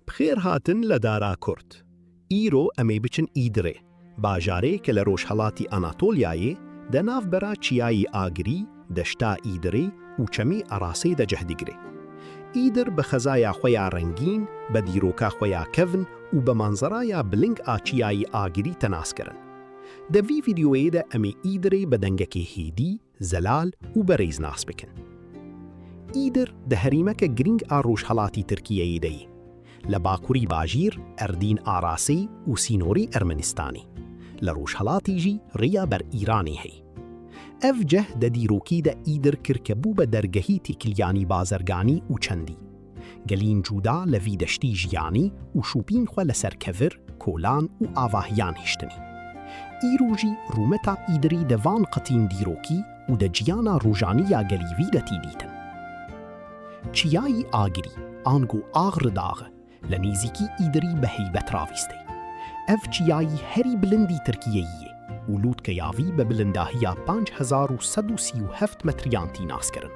Bixêr hatin li Dara Kurd. Îro em ê biçin Îdirê, bajarê ke li rojhelatî Anatolyayê de navbera Çiyayî Agirî, Deşta Îdirê û Çemî Erasê de cih digire. Îdir bi xezaya xwe ya rengîn, be dîroka xwe ya kevn û be manzeraya biling a Çiyayî Agirî te nas kirin. Di vî vîdyoyê de em ê Îdirê bi dengekê hêdî, Zelal û berêz nas bikin. Îdir di herîmeke girîng a rojhelatî Tirkiyeyê de yî. Li bakurî bajîr Erdîn a Rasê û sînorî Ermenistanî. Li rojhelatî jî riya ber Îranê hey. Ev ceh de dîrokî de Îdir kirke bû be dergehî têkiliyanî bazerganî û çendî. Gelîn cuda li vî deştî jiyanî û şûpîn xwe li ser kevir, kolan û avahiyan hiştinî. Îro jî rûmeta Îdirî di van qitîn dîrokî û di ciyana rojanî ya gelî vî de tî dîtin. Çiyayî Agirî, ango Ağrı Dağı, li nêzîkî Îdirî bi heybet ravîstê. Ev çiyayî herî bilindî Tirkiyeyî yê. û lûtkeya vî bi bilindahiya panc hezar û sed û sî û heft metriyan tî naskirin.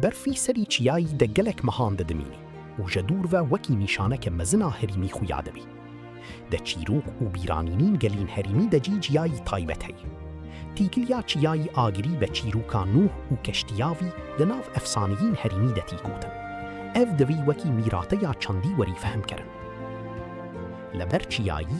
Berfî serî çiyayî de gelek mehan didimînî û je dûr ve wekî nîşaneke mezin a herîmî xuya dibî. De çîrok û bîranînîn gelîn herîmî de cî ciyayî taybet heye. Tîkiliya çiyayî Agirî be çîroka Nûh û keştiya vî di nav efsaneyîn herîmî de tî gotin. Ev divî wekî mîrateya çandî werî fehmkerin. Li ber çiyayî,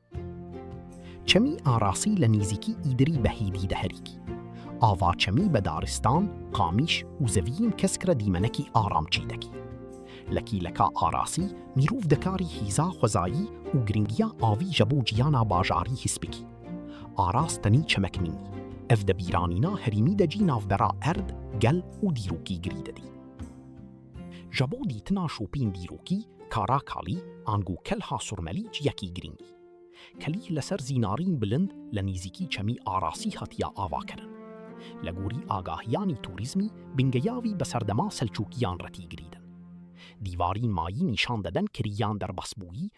Çemî arasî li nîzîkî Îdirî Behîdî de herîkî. Ava çemî be daristan, qamîş û zeviyên kesk re dîmenekî aram çîdekî. Li kîleka arasî mîrov dikarî hîza xwezayî û girîngiya avî je bo cîyana bajarî his bikî. Aras tenî çemek nîn. Ev di bîranîna herîmî de cî navbera erd, gel û dîrokî girî didî. Ji bo dîtina şopîn dîrokî, kara kalî, ango kelha surmelî ji yekî girîng î. Kelî li ser zînarîn bilind li nîzîkî çemî Arasî hatiya avakirin. Li gorî agahiyanî tûrîzmî, bingeya vî bi serdema Selçûkiyan re tî girîdin. Dîvarîn mayî nîşan deden kirîyan derbasbûyî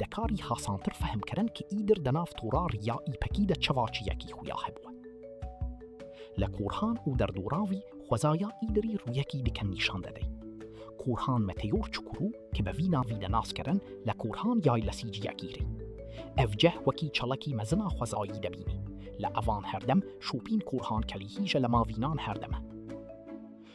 Dekarî hasantir fehm kirin ki îdir di nav tora riya îpekî de çiva çiyekî xuya hebû. Li Korhan û derdoran vî xwezaya îdirî rûyekî dikin nîşan de dey. Korhan Meteor Çukurû ki bi vî navî de nas kirin li Korhan yaylesî ciyekî rê. Ev cih wekî çalakî mezina xwezayî de bînî. Li evan herdem şopîn Korhan Kelîhîje li ma vînan herdem e.